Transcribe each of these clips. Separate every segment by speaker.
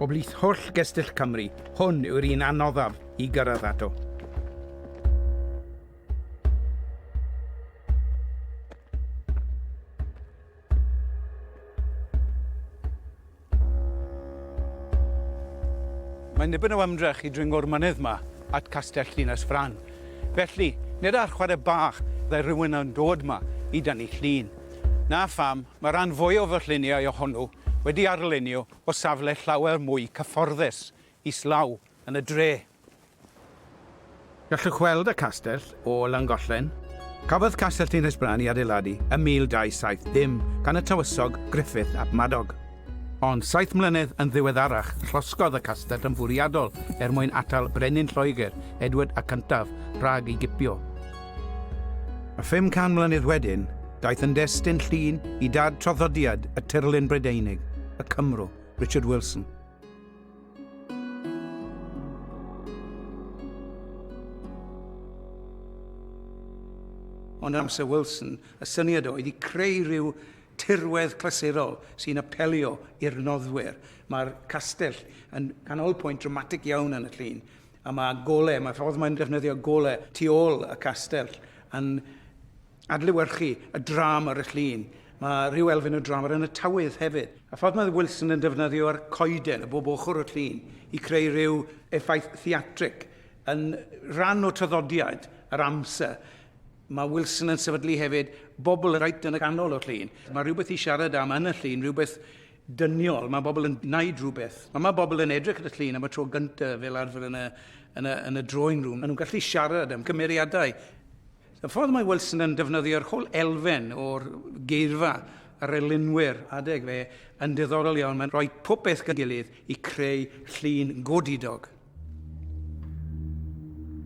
Speaker 1: O blith holl gestyll Cymru, hwn yw'r un anoddaf i gyrraedd ato. Mae'n dipyn o ymdrech i dringo'r mynydd 'ma at Castell Llinell Frân. Felly, nid ar chwarae bach ddaw rhywun yn dod 'ma i dynnu llun. Na pham, mae rhan fwyaf o lluniau ohonw wedi arlunio o safle llawer mwy cyfforddus islaw yn y dre. Gallwch weld y castell o Langollen. Cafodd Castell Tinhysbran ei adeiladu ym 1270 gan y Tywysog Griffith ap Madog. Ond saith mlynedd yn ddiweddarach, llosgodd y castell yn fwriadol er mwyn atal brenin Lloegr, Edward y Cyntaf, rhag ei gipio. A 500 mlynedd wedyn, daeth yn destun llun i dad traddodiad y tirlun Brydeinig, y Cymro, Richard Wilson. Ond amser Wilson, y syniad oedd i creu rhyw tirwedd clasurol sy'n apelio i'r noddwyr. Mae'r castell yn canolpwynt dramatig iawn yn y llun, a mae gole, mae ffordd mae'n defnyddio gole tu ôl y castell yn adlewyrchu y dram ar y llun. Mae rhyw elfen o dram ar yn y tawydd hefyd. A ffordd mae Wilson yn defnyddio'r coeden o bob ochr y llun i creu rhyw effaith theatrig yn rhan o traddodiad yr amser. Mae Wilson yn sefydlu hefyd bobl reit yn y ganol o'r llun. Mae rhywbeth i siarad am yn y llun, rhywbeth dyniol. Mae bobl yn gwneud rhywbeth. Mae, mae bobl yn edrych at y llun am y tro gyntaf fel arfer yn y, yn y, yn y drawing room. Maen nhw'n gallu siarad am cymeriadau Y ffordd mae Wilson yn defnyddio'r holl elfen o'r geirfa yr elunwyr adeg fe yn diddorol iawn. Mae'n rhoi popeth gyda'i gilydd i creu llun godidog.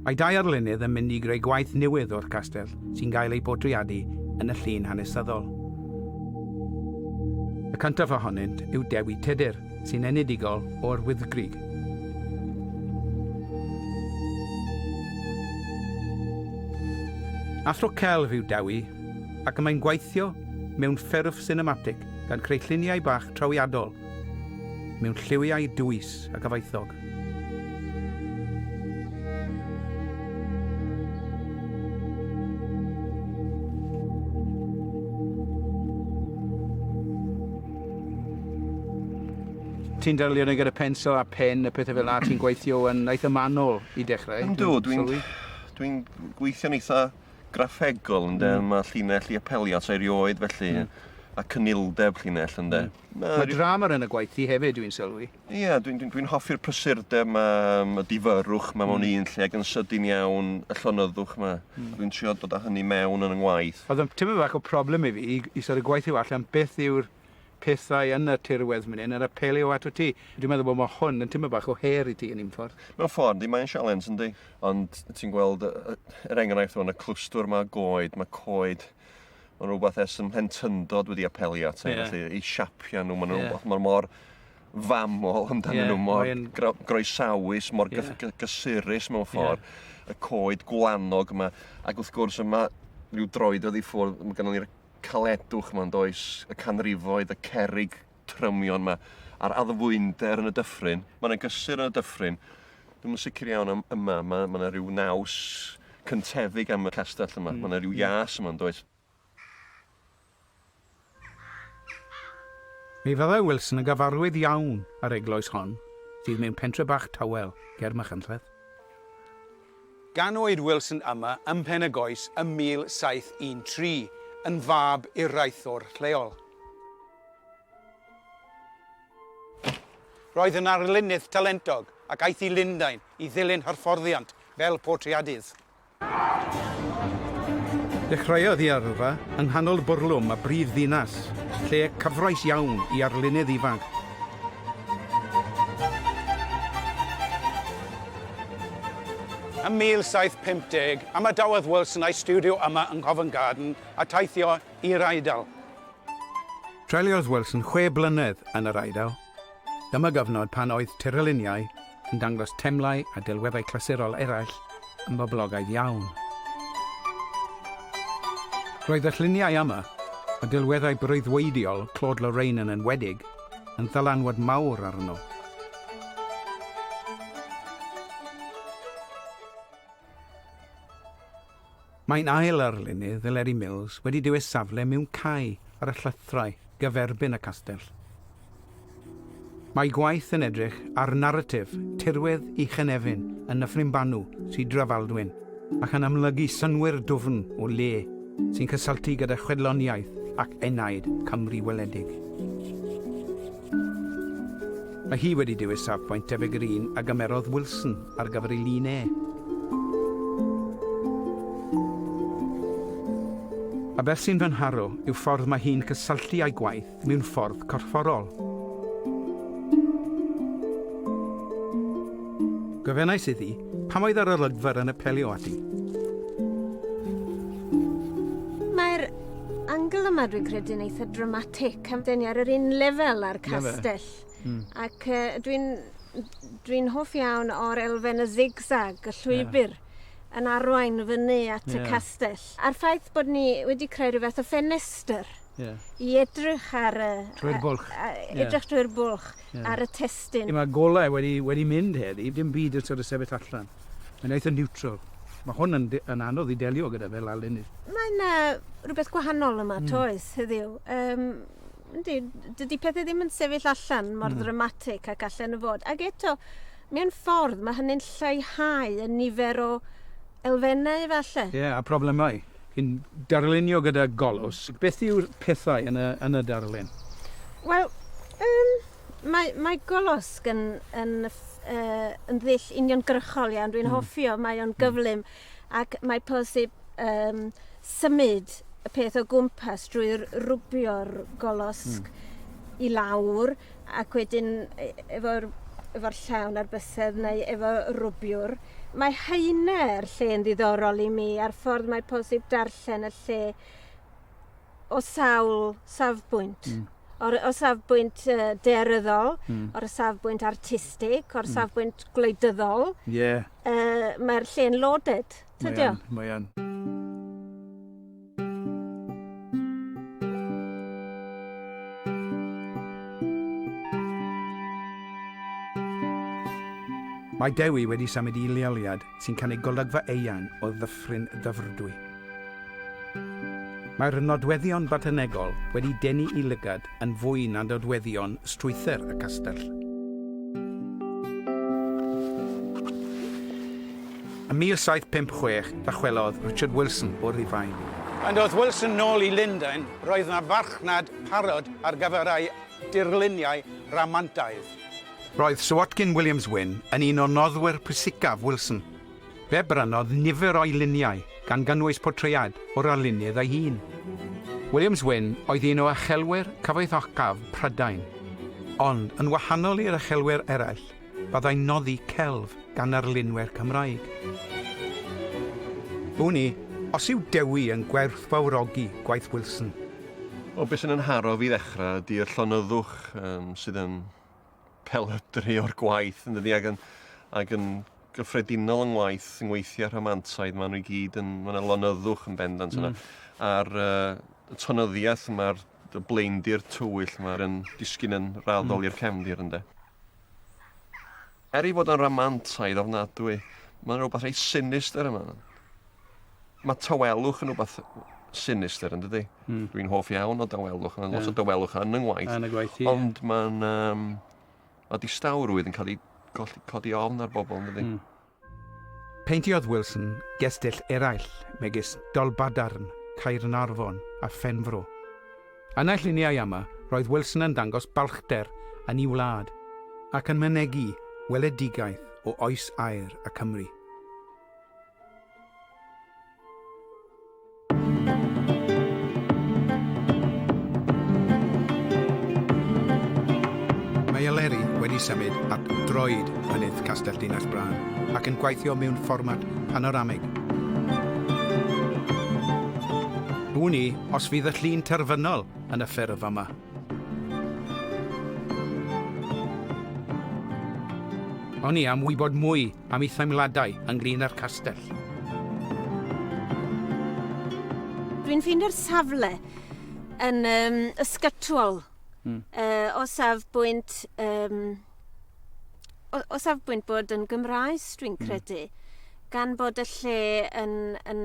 Speaker 1: Mae dau arlunydd yn mynd i greu gwaith newydd o'r castell sy'n cael ei bortreadu yn y llun hanesyddol. Y cyntaf ohonynt yw Dewi Tudur, sy'n enedigol o'r Wyddgrug. Athro celf yw Dewi, ac y mae'n gweithio mewn ffurf sinematig gan creu lluniau bach trawiadol mewn lliwiau dwys ac afaethog. ti'n delio ni gyda pensel a pen y pethau fel yna, ti'n gweithio yn eitha manol i dechrau. Ynddo, dwi'n dwi,
Speaker 2: dwi gweithio'n eitha graffegol, ynddo, mm. mae llinell i apelio at erioed felly, mm. a cynildeb llinell, ynddo. Mm. Mae, mae drama
Speaker 1: yn y gwaith i hefyd, dwi'n sylwi. Ie, dwi'n dwi, dwi
Speaker 2: hoffi'r prysurdeb ma, y difyrwch ma mewn mm. un lle, ac yn sydyn iawn y llonyddwch ma. Mm. Dwi'n trio dod â hynny mewn yn y ngwaith. Oedd yn tyfu fach o problem
Speaker 1: i fi, i, i sort of gweithio allan beth yw'r pethau yn y tirwedd mynd hyn, yr apelu o ato ti. Dwi'n meddwl bod mae hwn yn tymu bach o her i ti yn un ffordd. Mewn ffordd, di mae'n
Speaker 2: sialens yndi. Ond ti'n gweld yr enghraifft o'n y clwstwr mae goed, mae coed mae'n rhywbeth ers ym mhentyndod wedi apelio at ei, yeah. felly ei siapia nhw, mae'n yeah. rhywbeth, mae'n mor famol amdanyn yeah, nhw, mor yn... groesawus, mor yeah. gysurus mewn ffordd, yeah. y coed gwanog yma, ac wrth gwrs yma rhyw droed oedd i ffwrdd, mae gennym ni'r caledwch yma'n does, y canrifoedd, y cerig trymion yma, a'r addfwynder yn y dyffryn. Mae yna gysur yn y dyffryn. Dwi'n yn sicr iawn am yma, mae yna rhyw naws cyntefig am y castell yma. Mm. Mae yna rhyw ias yma'n does.
Speaker 1: Fe fyddai Wilson yn gyfarwydd iawn â'r eglwys hon, sydd mewn pentre bach tawel ger Machynlleth. Ganwyd Wilson yma ym Mhen-y-goes ym 1713, yn fab i'r raethwr lleol. Roedd yn arlunydd talentog ac aeth i Lundain i ddilyn hyfforddiant fel portreadydd. Dechreuodd ei yrfa yng nghanol bwrlwm a brif ddinas, lle cyfraith iawn i arlunydd ifanc. Ym 1750, ymadawodd Wilson â'i stiwdio yma yng Nghovan Garden a teithio i'r Eidal. Treuliodd Wilson chwe blynedd yn yr Eidal. Dyma gyfnod pan oedd tirluniau yn dangos temlau a delweddau clasurol eraill yn boblogaidd iawn. Roedd y lluniau yma, a delweddau breuddwydiol Claude Lorraine yn enwedig, yn ddylanwad mawr arno. Mae'n ail arlunydd Eleri Mills wedi dewis safle mewn cae ar y llythyrau gyferbyn y castell. Mae ei gwaith yn edrych ar naratif tirwedd Uchenefin yn Nyffryn Banw, Sir Drefaldwyn, ac yn amlygu synnwyr dwfn o le sy'n cysylltu gyda chwedloniaeth ac enaid Cymru weledig. Mae hi wedi dewis safbwynt debyg i'r un a gymerodd Wilson ar gyfer ei lun e. A beth sy'n fy nharo yw ffordd mae hi'n cysylltu â'i gwaith mewn ffordd corfforol. Gofynnais iddi pam oedd yr olygfa yn apelio at i.
Speaker 3: Mae'r angle yma, dwi'n credu'n eitha' dramatic. Camden ar yr un lefel â'r castell. Mm. Ac uh, dwi'n dwi hoff iawn o'r elfen y zigzag, y llwybr. Yeah yn arwain fyny at yeah. y castell. A'r ffaith bod ni wedi creu rhywbeth o ffenestr yeah. i edrych ar y... Trwy'r bwlch.
Speaker 1: Edrych yeah. trwy'r
Speaker 3: bwlch yeah. ar y testyn. Mae golau wedi,
Speaker 1: wedi mynd heddi, dim byd yn sort of sefyll allan. Mae'n eitha niwtral. Mae hwn yn, yn anodd i delio gyda fe lawr leni. Mae yna
Speaker 3: rhywbeth gwahanol yma, mm. toes, heddiw. Um, yndi, dydy pethau ddim yn sefyll allan mor mm. ddramatig ac allan y fod. Ac eto, mewn ffordd, mae hynny'n lleihau y nifer o elfennau efallai. Ie, yeah, a problemau.
Speaker 1: Yn darlunio gyda golws, beth yw'r pethau yn y, yn y darlun? Wel,
Speaker 3: um, Mae, mae Golosg yn, yn, uh, yn ddull uniongyrchol iawn. Dwi'n mm. hoffi o, mae o'n hmm. gyflym mm. ac mae posib um, symud y peth o gwmpas drwy rwbio'r golosg mm. i lawr ac wedyn e, efo'r efo llawn ar bysedd neu efo rwbiwr. Mae haine'r lle yn ddiddorol i mi a'r ffordd mae posib darllen y lle o sawl safbwynt. Mm. O'r o safbwynt uh, dearyddol, mm. o'r safbwynt artistig, o'r mm. safbwynt gwleidyddol. Ie. Yeah. Uh, Mae'r lle'n loaded, tydio? Mae an,
Speaker 1: mae Mae Dewi wedi symud i leoliad sy'n cynnig golygfa eang o Ddyffryn Dyfrdwy. Mae'r nodweddion botanegol wedi denu i lygad yn fwy na nodweddion strwythur y castell. Ym 1756, dychwelodd Richard Wilson o Rufain. Pan ddoth Wilson nôl i Lundain, roedd yna farchnad parod ar gyfer ei dirluniau rhamantaidd. Roedd Sir Watkin Williams-Wynne yn un o noddwyr pwysicaf Wilson. Fe brynodd nifer o'i luniau, gan gynnwys portread o'r arlunydd ei hun. Williams-Wynne oedd un o uchelwyr cyfoethocaf Prydain. Ond, yn wahanol i'r uchelwyr eraill, byddai'n noddi celf gan arlunwyr Cymraeg. Wn i os yw Dewi yn gwerthfawrogi gwaith Wilson. O, be sy'n 'y
Speaker 2: nharo fi i ddechrau ydy y llonyddwch sydd yn pelydru o'r gwaith yn dydi ac yn, ac yn gyffredinol yng ngwaith yng ngweithiau rhamantaidd, maen nhw i gyd yn, maen nhw lonyddwch yn bendant yna. Mm. A'r uh, tonyddiaeth yma'r blaendir tywyll yma yn disgyn yn raddol mm. i'r cefndir ynde. Er ei fod o'n ramantaidd ofnadwy, mae 'na rywbeth reit sinistr yma. Mae tawelwch yn rhywbeth sinistr, yn dydy? Mm. Dwi'n hoff iawn o dawelwch, mae'n yeah. lot o dawelwch yn yng ngwaith. Yn y gwaith, ie. Ond mae'n... Um, mae distawrwydd yn cael ei codi ofn ar bobl, yn dydy? Mm.
Speaker 1: Peintiodd Wilson gestyll eraill megis Dolbadarn, Caernarfon a Phenfro. Yn y lluniau yma, roedd Wilson yn dangos balchder yn ei wlad ac yn mynegi weledigaeth o oes aer y Cymry. Mae Eleri wedi symud at droed mynydd Castell Dinas Brân ac yn gweithio mewn fformat panoramig. Wn i os fydd y llun terfynol yn y ffurf yma. Wn i am wybod mwy am ei theimladau ynglyn â'r castell.
Speaker 3: Dwi'n ffeindio'r safle yn um, ysgytwol. Mm. Uh, o safbwynt um, o, o safbwynt bod yn Gymraes, dwi'n hmm. credu, mm. gan bod y lle yn, yn,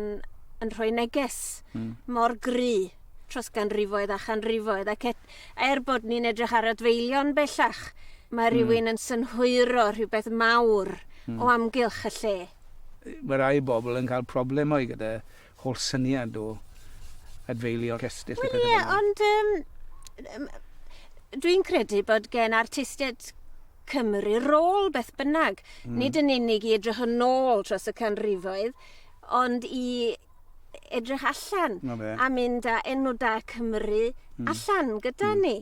Speaker 3: yn rhoi neges mm. mor gry tros ganrifoedd a chanrifoedd ac et, er bod ni'n edrych ar adfeilion bellach, mae hmm. rhywun mm. yn synhwyro rhywbeth mawr mm. o amgylch y lle. Mae rai
Speaker 1: bobl yn cael problemau gyda Holl syniad o adfeilio cestyll a pethau fel 'na. Wel ie, ond yym
Speaker 3: yym dwi'n credu bod gen artistiaid Cymru rôl beth bynnag. Mm. Nid yn unig i edrych yn ôl tros y canrifoedd, ond i edrych allan a mynd â enw da Cymru mm. allan gyda mm. ni.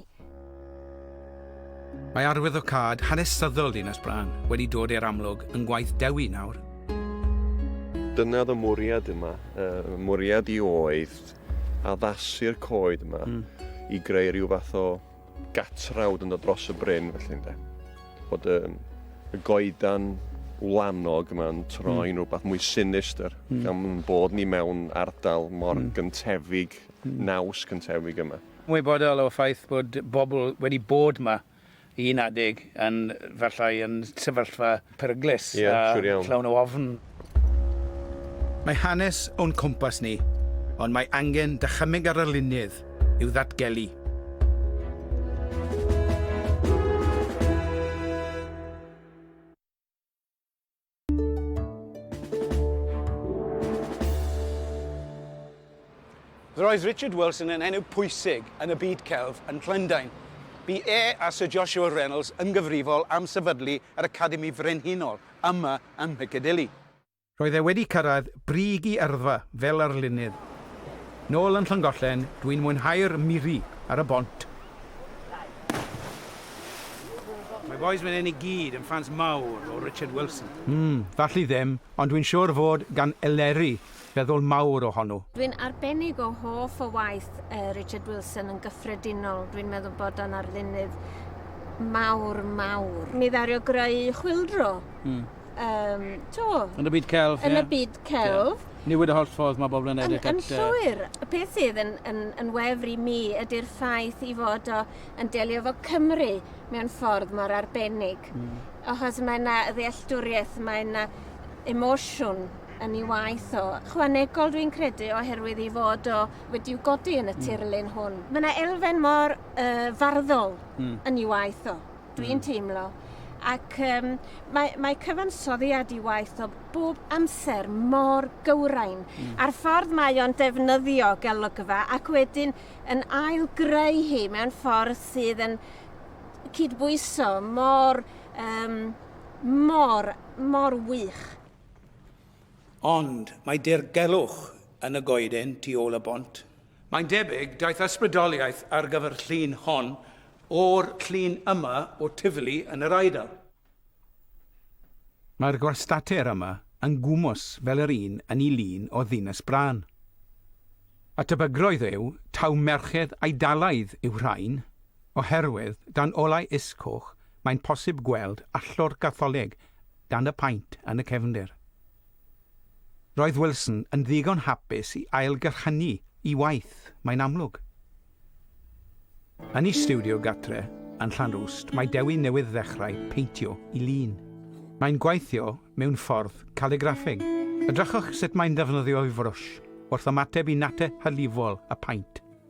Speaker 1: Mae arwyddocâd hanesyddol Dinas Bran wedi dod i'r amlwg yn gwaith Dewi nawr.
Speaker 2: Dyna oedd y mwriad yma. Y mwriad i oedd addasu'r coed yma i greu rhyw fath o gatrawd yn dod dros y bryn felly ynde. Bod y, y goedan wlanog yma'n troi'n rhywbeth mwy sinistr gan bod ni mewn ardal mor gyntefig, naws gyntefig yma. Ymwybodol o'r ffaith
Speaker 1: bod pobl wedi bod 'ma i un adeg yn efallai yn sefyllfa peryglus a llawn o ofn. Mae hanes o'n cwmpas ni, ond mae angen dychymyg ar arlunydd i'w ddatgelu. Roedd Richard Wilson yn enw pwysig yn y byd celf yn Llundain. Bu e a Sir Joshua Reynolds yn gyfrifol am sefydlu yr Academi Frenhinol yma ym Mhicadilly. Roedd e wedi cyrraedd brig i yrfa fel arlunydd. Nôl yn Llangollen, dwi'n mwynhau'r miri ar y bont Mae bois fan hyn i gyd yn ffans mawr o Richard Wilson. Mm, falli ddim, ond dwi'n siwr fod gan Eleri feddwl mawr o honnw. Dwi'n arbennig o hoff o waith Richard Wilson yn gyffredinol, dwi'n meddwl bod o'n arlunydd mawr, mawr. Mi ddaru o greu Chwyldro. Mm. um, to... Yn y byd celf, Yn yeah. y byd celf. Yeah. Newid y holl ffordd mae bobl yn edrych at... Yn llwyr. Y peth sydd yn, yn, yn wefr i mi ydy'r ffaith i fod o yn delio fo Cymru mewn ffordd mor arbennig. Mm. Achos mae yna ddealltwriaeth, mae yna emosiwn yn ei waith o. Chwanegol dwi'n credu oherwydd i fod o wedi'w godi yn y hmm. tirlun hwn. Mae yna elfen mor uh, farddol mm. yn ei waith o. dwi'n hmm. teimlo. Ac um, mae, mae cyfansoddiad i waith o bob amser mor gywrain. Mm. A'r ffordd mae o'n defnyddio gelygfa ac wedyn yn ail greu hi mewn ffordd sydd yn cydbwyso mor, um, mor, mor wych. Ond mae dirgelwch yn y goeden tu ôl y bont. Mae'n debyg daeth ysbrydoliaeth ar gyfer y llun hon o'r llun yma o Tivoli yn yr Eidal. Mae'r gwastatir yma yn gwmws fel yr un yn y lun o Ddinas Brân. A tebygrwydd yw taw merched Eidalaidd yw rhain, oherwydd dan olau is coch mae'n posib gweld allor Gatholig dan y paent yn y cefndir. Roedd Wilson yn ddigon hapus i ailgyrchynu i waith, mae'n amlwg. Yn ei stiwdio gartre yn Llanrwst mae Dewi newydd ddechrau peintio i lun. Mae'n gweithio mewn ffordd caligraffig. Edrychwch sut mae'n defnyddio'i frwsh wrth ymateb i nate hylifol y paent.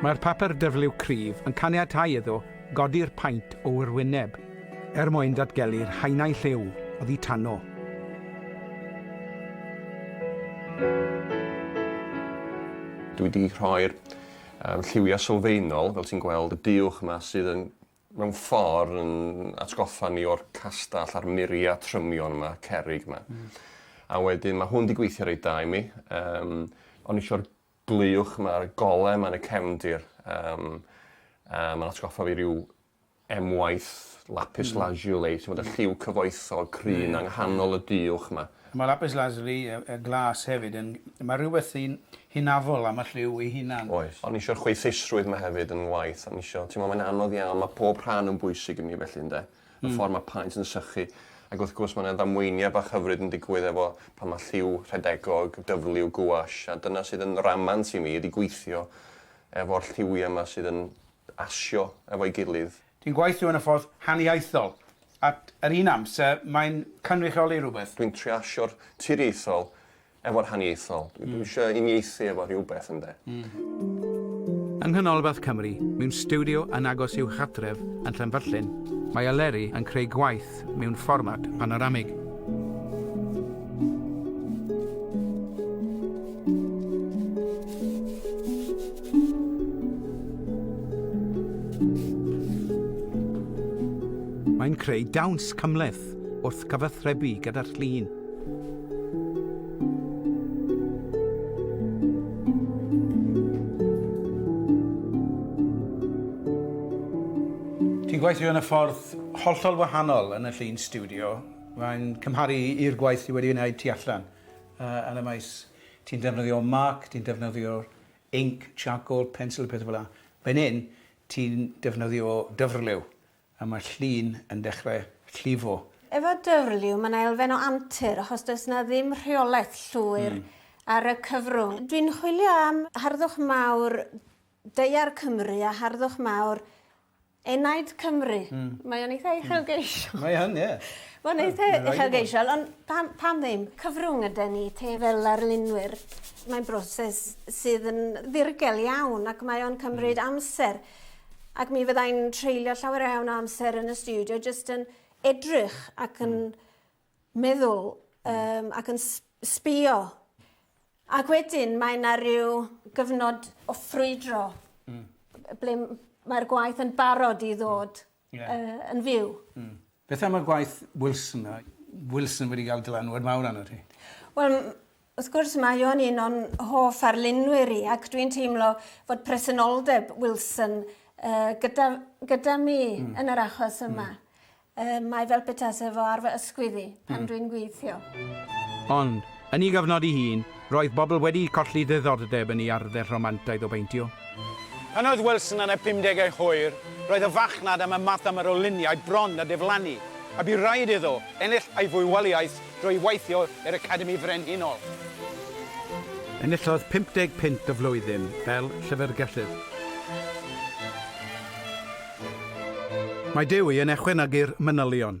Speaker 1: Mae'r papur dyfliw cryf yn caniatáu iddo godi'r paent o wrwyneb er mwyn datgelu'r haenau lliw oddi tano.
Speaker 2: Dwi 'di rhoi'r lliwiau sylfaenol, fel ti'n gweld, y duwch 'ma sydd yn mewn ffordd yn atgoffa ni o'r castell a'r muria trymion yma, cerrig yma. Mm. A wedyn mae hwn wedi gweithio reit da i mi. Um, o'n eisiau'r glywch mae'r gole mae'n y cefndir. Um, uh, mae'n atgoffa fi rhyw emwaith lapis mm. lazuli, sy'n bod y lliw cyfoethog cryn mm. anghanol y diwch yma. Mae
Speaker 1: lapis lazuli, y glas hefyd, yn, mae rhywbeth sy'n Hynafol am y lliw ei hunan. Oes. O'n isio'r chwaethusrwydd
Speaker 2: 'ma hefyd yn 'ngwaith. O'n isio, t'mo', mae'n anodd iawn, ma' pob rhan yn bwysig i mi felly ynde? Y ffordd ma' paent yn sychu, ac wrth gwrs ma' 'na ddamweiniau bach hyfryd yn digwydd efo pan ma' lliw rhedegog, dyfliw, gouache, a dyna sydd yn ramant i mi ydi gweithio efo'r lliwiau 'ma sydd yn asio efo'i gilydd. Ti'n gweithio yn y ffordd
Speaker 1: haniaethol, ac yr un amser mae'n cynrychioli rhywbeth. Dwi'n trio asio'r
Speaker 2: tiriaethol efo rhaniaethol. Dwi dwi isio uniaethu efo rhywbeth ynde?
Speaker 1: Yng Nghanolbarth Cymru, mewn stiwdio yn agos i'w chartref yn Llanfyllin, mae Eleri yn creu gwaith mewn fformat panoramig. Mae'n creu dawns cymhleth. gwaith wrth gyfathrebu gyda'r llun. Ti'n gweithio yn y ffordd hollol wahanol yn y llun studio. Mae'n cymharu i'r gwaith ti wedi wneud tu allan uh, yn y maes. Ti'n defnyddio marc, ti'n defnyddio inc, charcoal, pencil, pethau fel yna. Fan hyn, ti'n defnyddio dyfrliw A mae llun yn dechrau llifo. Efo dwrliw
Speaker 3: mae 'na elfen o antur achos does 'na ddim rheolaeth llwyr ar y cyfrwng. Dwi'n chwilio am harddwch mawr daear Cymru a harddwch mawr enaid Cymru. Mae o'n eitha uchelgeisiol. Mae yn, ie.
Speaker 1: Mae'n eitha
Speaker 3: uchelgeisiol ond pam pam ddim? Cyfrwng ydan ni te fel arlunwyr. Mae'n broses sydd yn ddirgel iawn ac mae o'n cymryd amser. Ac mi fyddai'n treulio llawer iawn o amser yn y studio jyst yn edrych ac yn hmm. meddwl um, ac yn sbio. Ac wedyn mae yna rhyw gyfnod o ffrwydro mm. ble mae'r gwaith yn barod i ddod mm. Ie. Yy yn fyw. Hmm. Beth am y
Speaker 1: gwaith Wilson 'na? Wilson wedi ga'l dylanwad mawr arnot ti. Wel m-
Speaker 3: wrth gwrs mae o'n un o'n hoff arlunwyr i ac dwi'n teimlo fod presenoldeb Wilson yy gyda gyda mi... Hmm. ...yn yr achos yma. Hmm. Yy mae fel petase fo ar fy ysgwydd i pan... Hmm. ...dwi'n gweithio. Ond
Speaker 1: Yn ei gyfnod ei hun, roedd bobl wedi colli ddiddordeb yn ei arddel rhamantaidd o beintio. Pan oedd
Speaker 4: Wilson yn ei phumdegau hwyr, roedd y farchnad am y math yma o luniau bron a diflannu, a bu raid iddo ennill ei fywoliaeth drwy weithio i'r Academi Frenhinol.
Speaker 1: Enillodd 50 punt y flwyddyn fel llyfrgellydd. Mae Dewi yn echwynagu'r manylion,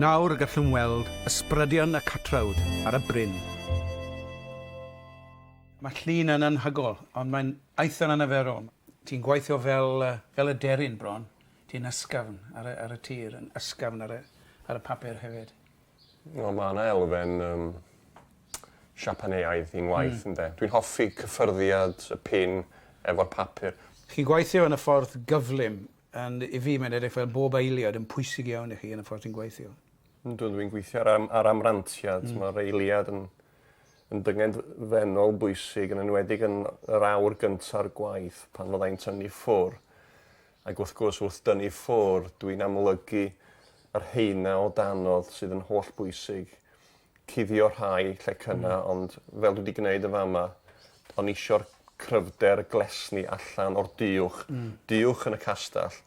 Speaker 1: Nawr y gallwn weld ysbrydion y catrawd ar y bryn. Mae llun yn anhygol, ond mae'n eitha anarferol. Ti'n gweithio fel, uh, fel y deryn bron. Ti'n ysgafn ar y, ar y tir, yn ysgafn ar y, ar y papur hefyd. Wel mae yna
Speaker 2: elfen um, Siapaneaidd i'n ngwaith, mm. ynde. Dwi'n hoffi cyffyrddiad y pin efo'r papur. Chi'n gweithio yn y
Speaker 1: ffordd gyflym, and i fi mae'n edrych fel bob eiliad yn pwysig iawn i chi yn y ffordd ti'n gweithio. Dwi'n dwi'n gweithio
Speaker 2: ar, am, ar amrantiad, mm. mae'r eiliad yn, yn dynged fenol bwysig, yn enwedig yn yr awr gynta'r gwaith pan fyddai'n tynnu ffwr. Ac wrth gwrs, wrth dynnu ffwr, dw i'n amlygu y rheina o danodd sydd yn hollbwysig. Cuddio rhai, lle cynna, ond fel dwi 'di gneud yn fa' 'ma, o'n i isio'r cryfder glesni allan o'r duwch, duwch yn y castell,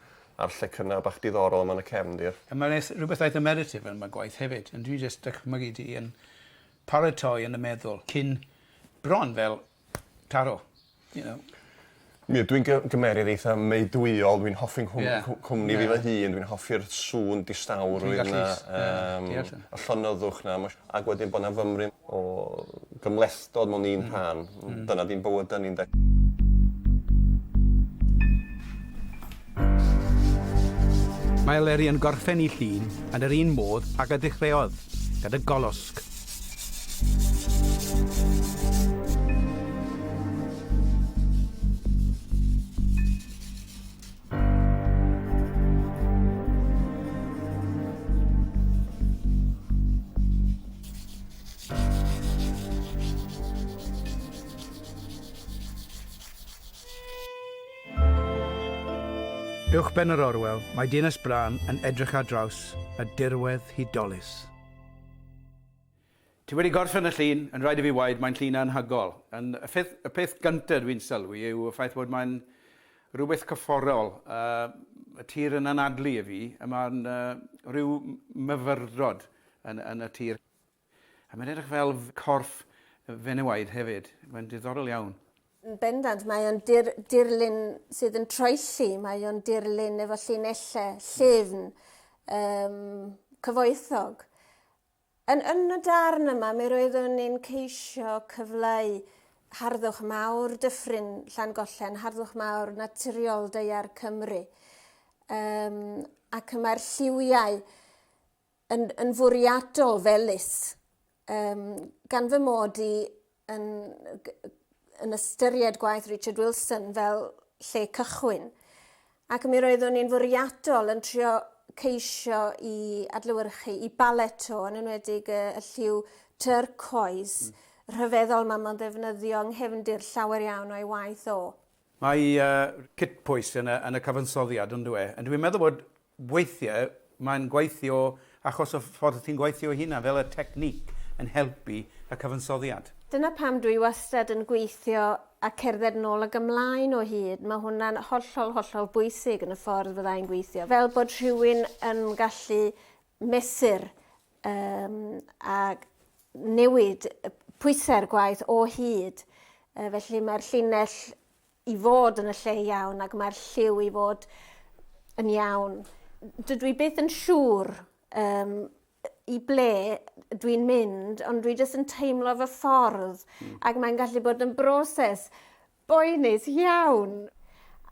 Speaker 2: a'r lle cynna bach diddorol yma yn y cefndir. A mae 'na rhywbeth eitha
Speaker 1: meditative yn fy gwaith hefyd, yn dwi jyst dychmygu ti yn paratoi yn y meddwl cyn bron fel Taro. You know. Mi
Speaker 2: ydw i'n gy- gymeryd eitha meudwyol, dwi'n hoffi nghwm- Ie. cw- cwmni fi fy hun, dwi'n hoffi'r sŵn distawrwydd 'na. Dwi'n gallu s- ie, yym. Deall hynny. Y llonyddwch 'na ma' ag wedyn bo' 'na fymryn o gymhlethdod mewn un rhan. Hmm. Hmm. Dyna 'di'n bywyda ni ynde?
Speaker 1: Mae Leri yn gorffen 'i llun yn yr un modd ag y dechreuodd, gyda golosg. Uwchben yr Orwel, mae Dinas Brân yn edrych ar draws y dirwedd hudolus. Ti wedi gorffen y llun, yn rhaid i fi waed, mae'n llun anhygol. Yn, y pheth, y peth gynta dwi'n sylwi yw y ffaith bod mae'n rhywbeth cyfforol. Uh, y tir yn anadlu i fi, a mae'n uh, rhyw myfyrdod yn, yn y tir. A mae'n edrych fel corff fenewaid hefyd. Mae'n diddorol iawn. Yn bendant, mae
Speaker 3: o'n dir, dirlun sydd yn troelli, mae o'n dirlun efo llinellau, llyfn, um, cyfoethog. Yn, yn y darn yma, mi roeddwn ni'n ceisio cyfleu harddwch mawr dyffryn Llangollen, harddwch mawr naturiol deiar Cymru. Um, ac mae'r lliwiau yn, yn fwriadol fel lys, um, gan fy mod i yn, yn ystyried gwaith Richard Wilson fel lle cychwyn. Ac mi roeddwn i'n fwriadol yn trio ceisio i adlywyrchu i balet o, yn enwedig y, y lliw turcoes, mm. rhyfeddol mae mae'n ddefnyddio yng nghefndir llawer iawn o'i waith o. Mae uh,
Speaker 1: cytpwys yn y, yn y cyfansoddiad, ond dwi. E? Dwi'n meddwl bod Weithiau mae'n gweithio achos y ffordd ti'n gweithio hynna, fel y technique yn helpu y cyfansoddiad. Dyna pam dwi
Speaker 3: wastad yn gweithio a cerdded nôl ag ymlaen o hyd, mae hwnna'n hollol, hollol bwysig yn y ffordd fydda i'n gweithio, fel bod rhywun yn gallu mesur yym a newid pwysau'r gwaith o hyd, felly mae'r llinell i fod yn y lle iawn ac mae'r lliw i fod yn iawn. Dydw i byth yn siŵr um, i ble dwi'n mynd, ond dwi jyst yn teimlo fy ffordd mm. ac mae'n gallu bod yn broses boenus iawn.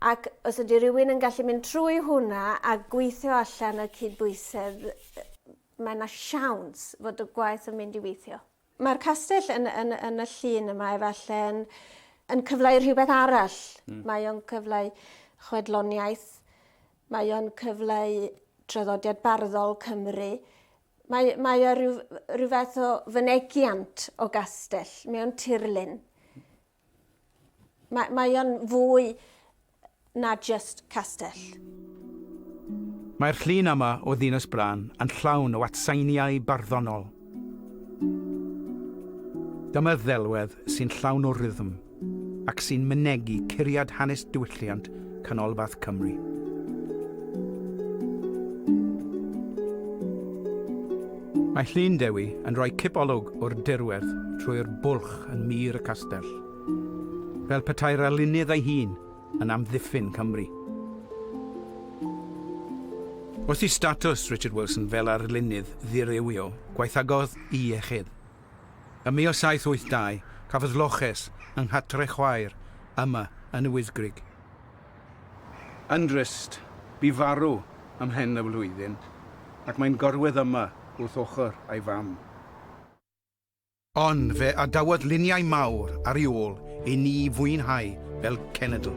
Speaker 3: Ac os ydy rhywun yn gallu mynd trwy hwnna a gweithio allan y cydbwysedd, mae yna siawns fod y gwaith yn mynd i weithio. Mae'r castell yn, yn, yn y llun yma efallai yn, yn cyfleu rhywbeth arall. Mm. Mae o'n cyfleu chwedloniaeth, mae o'n cyfleu traddodiad barddol Cymru, mae, mae o rhyw, rhyw fath o fynegiant o gastell, mae o'n tirlun. Mae, mae o'n fwy na just castell.
Speaker 1: Mae'r llun yma o Ddinas Bran yn llawn o atseiniau barddonol. Dyma ddelwedd sy'n llawn o rythm ac sy'n mynegi curiad hanes diwylliant Canolbarth Cymru. Mae Llyn Dewi yn rhoi cipolwg o'r dirwedd trwy'r bwlch yn mur y castell, fel petai'r alunydd ei hun yn amddiffyn Cymru. Wrth i statws Richard Wilson fel arlunydd ddirywio, gwaethagodd i iechyd. Ym 1782, cafodd loches yng nghatre'r chwaer yma yn y Wyddgrug. Yn drist, bu farw ym mhen y flwyddyn ac mae'n gorwedd yma wrth ochr ei fam. Ond fe adawodd luniau mawr ar ei ôl i ni fwynhau fel cenedl.